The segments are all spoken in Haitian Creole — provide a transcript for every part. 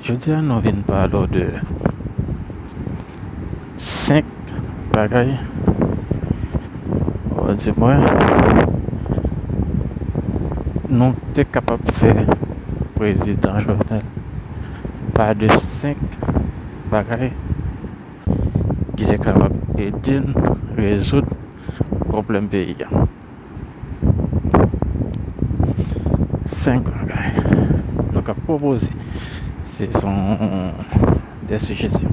Jodi an nou vin pale w de 5 bagay ou a di mwen nou te kapab fè prezidan Jovenel pa de 5 bagay ki te kapab ede n rezoud pwoblèm peyi a. 5 bagay nou ka pwopoze se son de sijesyon.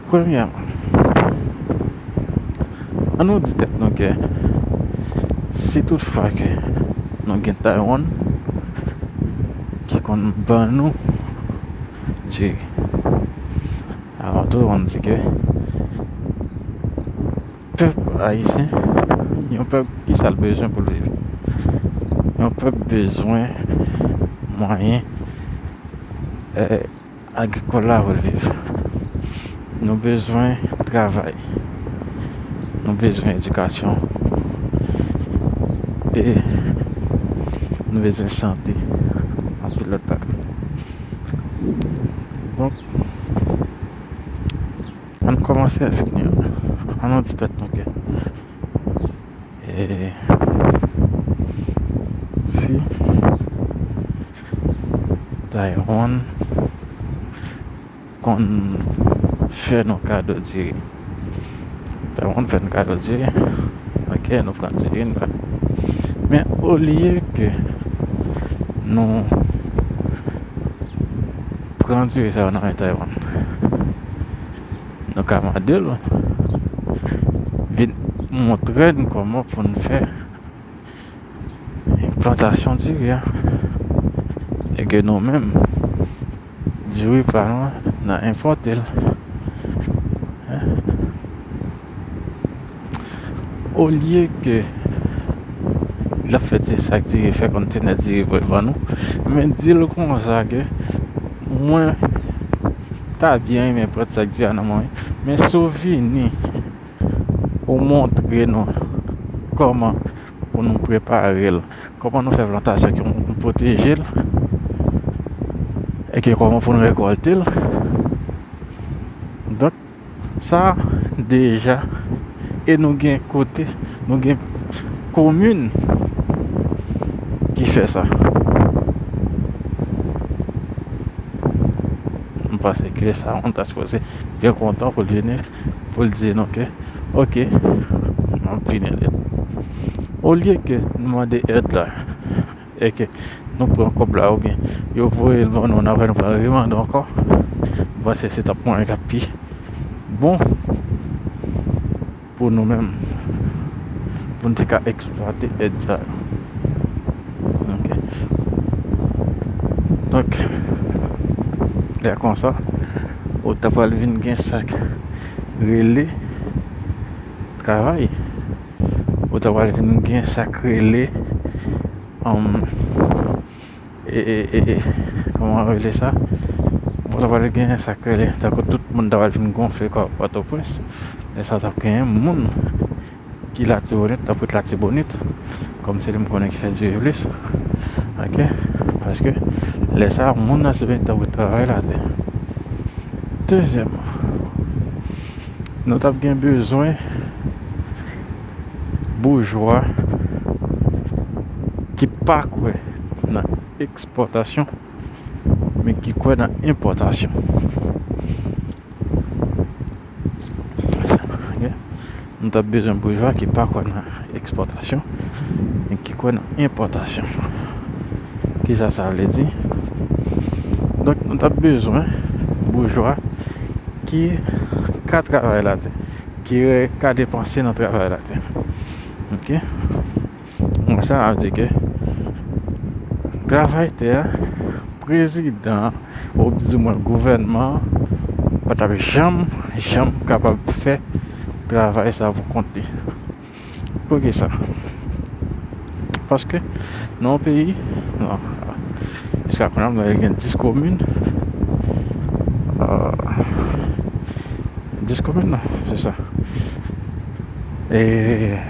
Premyèman, an nou di tèt nou ke si tout fwa ke nou gen Taiwan ki konn ban nou diri. Avan tou an di ke pèp ayisyen yon pèp ki sa l bezwen pou l viv? Yon pèp bezwen mwayen agrikòl la pou l viv. Nou bezwen travay. Nou bezwen edikasyon. E nou bezwen sante. Anpil lòt bagay. Donk. An nou kòmanse avèk nou yo. An nou di tèt nou ke eee si Taïwan konn fè nou kado diri. Sa moun fè n kado di wi. Ok nou pran ti yn bak. Men olye ke nou pran diri sa yo nan men Taywan. Nou ka mande l vin montre n kòman pou n fè Plantasyon diri a. E ke nou menm, diri pa nou an, nan enpòte l. Olye ke la fè ti sa k diri, fè kontenè diri pou l ban nou, men di l konsa ke mwen ta byen renmen pran sa k diri a nan men w, men si w vini. Ou montre nou kòman pou nou prepare l, kòman nou fè plantasyon ki pou nou pwoteje l e ki kòman pou nou rekòlte l. Donk sa deja e nou gen kote, nou gen komin ki fè sa. M panse ke sa moun ta sipoze byen kontan pou l vini. pou l di nou ke ok m ap vin ede l. Olye ke nou mande èd la e ke nou pran kòb la oubyen yo voye l ban nou ann apre nou pral remande ankò, m panse se t ap mwen k ap pi bon pou nou menm pou n te ka eksplwate èd sa yo. Ok, donk lè konsa. Ou ta pral vin gen sak rele travay. Ou ta pral vin gen sak rele um e e e e kòman yo rele sa? Ou ta pral gen sak rele tankou tout moun ta pral vin gonfle kò Pòtoprens. Lè sa tap genyen moun. Ki latibonit tanpri t latibonit kòm se li m konnen ki fè diri plis ok paske lè sa moun latibonit ta pral travay la tè dezyèmman nou t ap gen bezwen boujwa ki pa kwè nan ekspòtasyon men ki kwè nan enpòtasyon Nou tap bezwen boujwa ki pa kwè nan ekspòtasyon men ki kwè nan enpòtasyon. Kisa sa vle di? Donk nou tap bezwen boujwa ki ka travay latè, ki ka depanse nan travay latè. Ok? Mwen sa ap di ke travay tè a prezidan an ou bzou mwen gouvènman an pa tap janm janm kapab fè travay sa pou kont li. Poukisa? Paske nan yon peyi nan jiska kounye a mwen gen 10 komin a 10 komin nan se sa eee.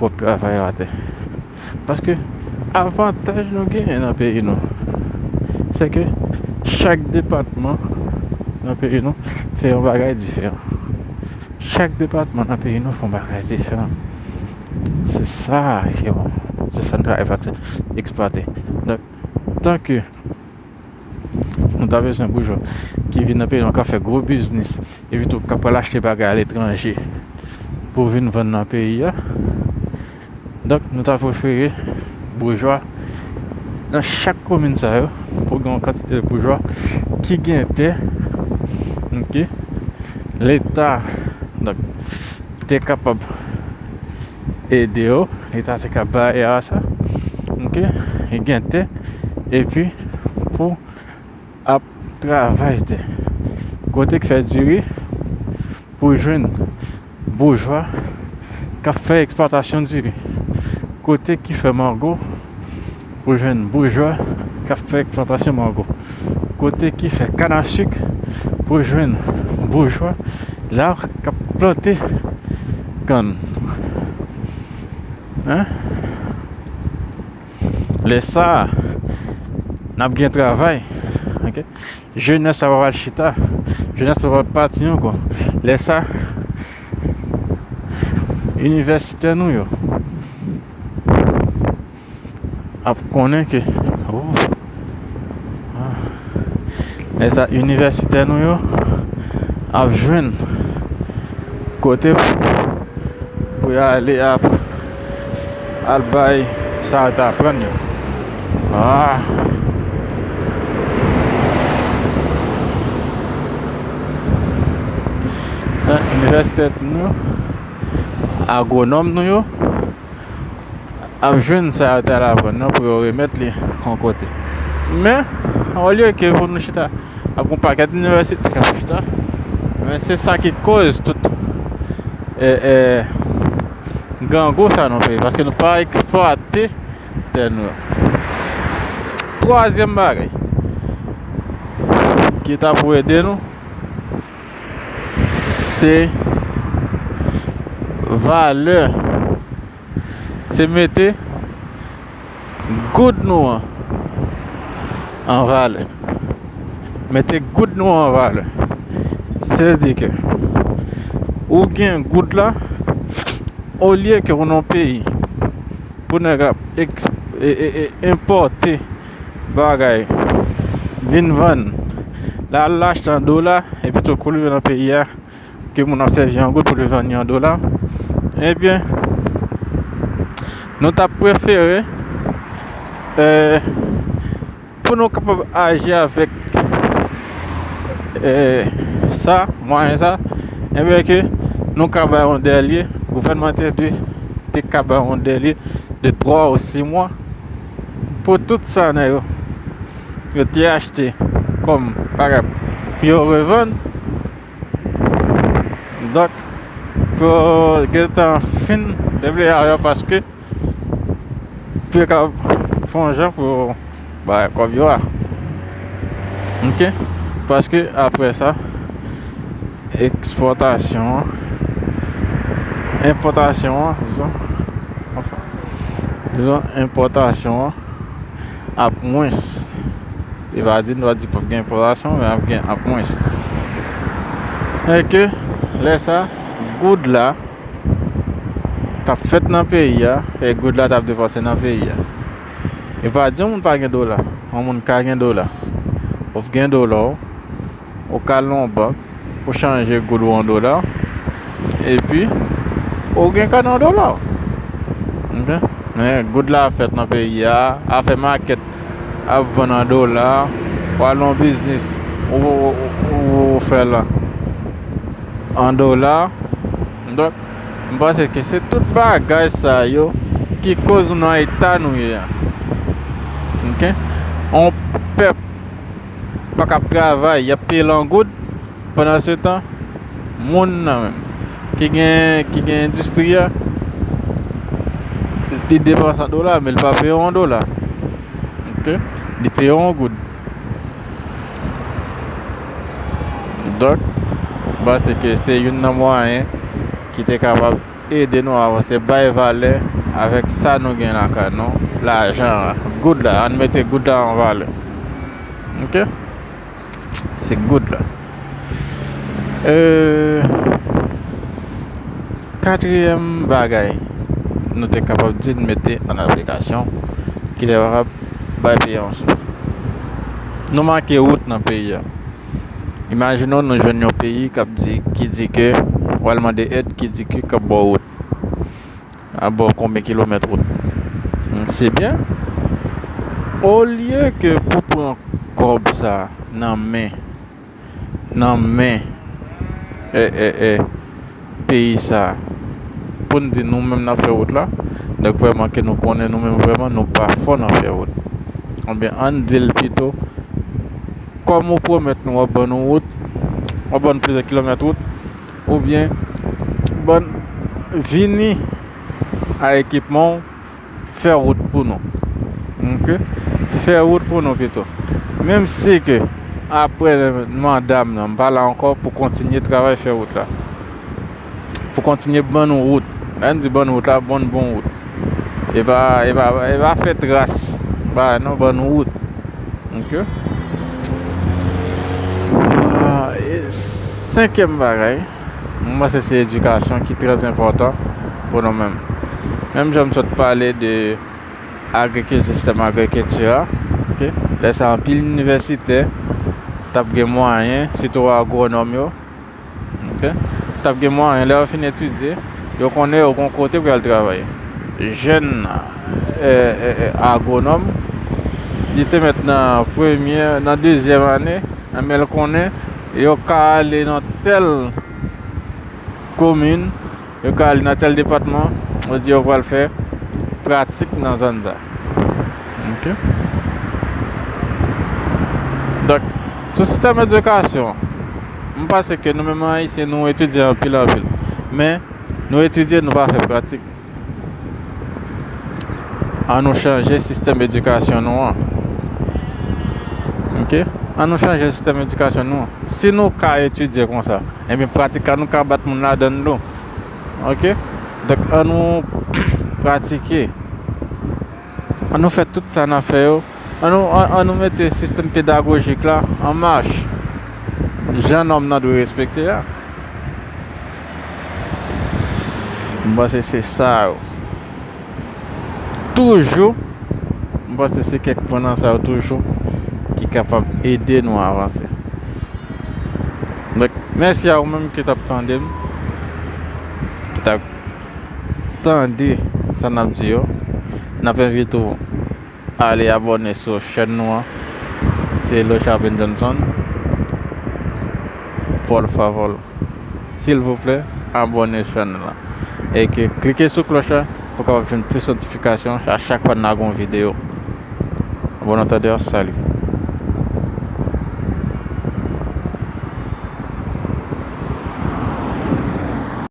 pwòp travay la atè. Paske avantaj nou genyen nan peyi nou, se ke chak depatman nan peyi nou fè yon bagay diferan. Chak depatman nan peyi nou fè yon bagay diferan. Se sa ki bon, se sa nou ta esplwate. Donk, tanke. Nou ta bezwen boujwa ki vin nan peyi nou k ap fè gwo biznis epitou k ap pral achte bagay aletranje pou vin vann nan peyi a. Donk nou ta prefere boujwa nan chak komin sa yo pou gen yon kantite boujwa ki gen tè ok leta donk te kapab ede yo e ta te ka ba era sa ok e gen te epi pou ap travay te kote k fè diri pou jwenn boujwa kap fè eksplwatasyon diri kote ki fè mango Ou jwenn boujwa k ap fè eksplantasyon mango. Kote ki fè kann a suk, ou jwenn boujwa la k ap plante kann. Lè sa a, n ap gen travay. Jenès la pa pral chita. Jenès la pa pral pati ankò. Lè sa a, inivèsitè nou yo. ap konnen ke ooh lè sa inivèsitè nou yo ap jwenn kote pou yo ale ap al bay sa yo t aprann yo inivèsitè nou yo agwonòm nou yo ap jwenn sa yo te al aprann nan pou yo remèt li yon kote. Men, olye ke pou nou chita ak yon pakèt inivèsite kap chita, men se sa ki koz tout e e grangou sa nan peyi paske nou pa eksplwate tè nou yo. Twazyèm bagay ki ta pou ede nou se valè se mete goud nou an an valè mete goud nou an valè se di ke ou gen goud la olye ke ou nan yon peyi pou nèg ap èks e e enpòte Bagay vin vann la al achte an dola epi tou kou li vin nan peyi a ke moun ap sèvi an goud pou li vann yo an dola ebyen nou ta prefere pou nou kapab aji avèk sa mwayen sa ebyen ke nou ka bay yon dèle gouvènman te dwe te ka bay yon dèle de 3 ou 6 mwa pou tout sa nan yo yo te achte kòm bagay pou yo revann donk pou yo gen tan fin deble a yo paske pou yo kapab fè yon jan pou yo bay kòb yo a ok paske apre sa. Ekspòtasyon an. Enpòtasyon an, se sa? Anfen. Dizon enpòtasyon an ap mwens. E va di nou va di pap gen enpòtasyon, men ap gen ap mwens. E ke lè sa goud la tap fèt nan peyi a, e goud la tap defanse nan peyi a. E va di yon moun pa gen dola, yon moun ka gen dola. Of gen dola ou. Ou ka al nan yon bank, ou chanje goud ou an dola, epi ou gen kane an dola ou. Ok? Men, goud la fèt nan peyi a, a fè makèt, a vann an dola, ou al nan biznis, ou fè l an dola. Donk, m panse ke se tout bagay sa yo ki koz nou nan eta nou ye a. Ok? On pèp pa kab travay yap peye l an goud pandan se tan moun nan menm ki gen ki gen endistri a li depanse an dola men li pa peye w an dola ok li peye w an goud donk m panse ke se youn nan mwayen ki te kapab Ede nou avanse bay valè avèk sa nou gen lakay nou lajan an goud la ann mete goud la an valè ok se goud la katriyèm bagay nou te kapab di n mete ann aplikasyon ki te kapab bay peyi a yon souf nou manke wout nan peyi a. Imajinon nou jwenn yon peyi kap di ki di ke wal mande èd ki di ki kap baw wout. A baw konbyen kilomèt wout. Se byen. Olye ke pou pran kòb sa nan men nan men eh eh eh peyi sa a pou n di nou menm n ap fè wout la dèk vrèman ke nou konnen nou menm vrèman nou pa fò nan fè wout anben ann di l pito kòm ou pwomèt nou w ap ban nou wout w ap ban nou plizyè kilomèt wout oubyen ban vini a ekipman w Fè wout pou nou. Ok. Fè wout pou nou pito. Menm si ke apre mandam nan, m pa la ankò pou kontinye travay fè wout la. Pou kontinye ban nou wout. Nan di ban nou wout la, bon bon wout. E pa, e pa, e pa fè tras. Ba nou ban nou wout. Ok. Senkèm bagay. Mwen panse se edikasyon ki trè enpòtan pou nou menm. Menm jan m sot pale de agrikil, sistèm agrikilti a, ok? Lè sa anpil inivèsitè t ap gen mwayen, sitou agwonòm yo, ok? T ap gen mwayen lè yo fin etidye, yo konnen yo gon kote pou y al travay. Jèn agwonòm, li te mèt nan premye, nan dezyèm ane, anben l konnen. Yo ka ale nan tèl komin, yo ka ale nan tèl depatman, yo di yo pral fè pratik nan zòn sa. Ok. Donk, sou sistèm edikasyon, m panse ke nou menm Ayisyen nou etidye anpil anpil. Men, nou etidye nou pa fè pratik. An nou chanje sistèm edikasyon nou an. Ok? An nou chanje sistèm edikasyon nou an. Si nou ka etidye kon sa, enben pratik la nou ka bat moun ladan nou. Ok? Donk an nou pratike. An nou fè tout sa n ap fè yo, an nou mete sistèm pedagojik la an mach jan nòm nan dwe respekte a. M panse se sa yo toujou, m panse se kèk pwen nan sa yo toujou ki kapab ede nou avanse. Donk mèsi a ou menm ki t ap tande m, ki t ap. tande sa nap di yo nap envite w ale abòne sou chèn nou an se Lochard M. Johnson por favor silvouplè abòne chèn nou an e ke klike sou klòch la pou w kapab jwenn plis notifikasyon a chak fwa nan gon videyo bon antande salut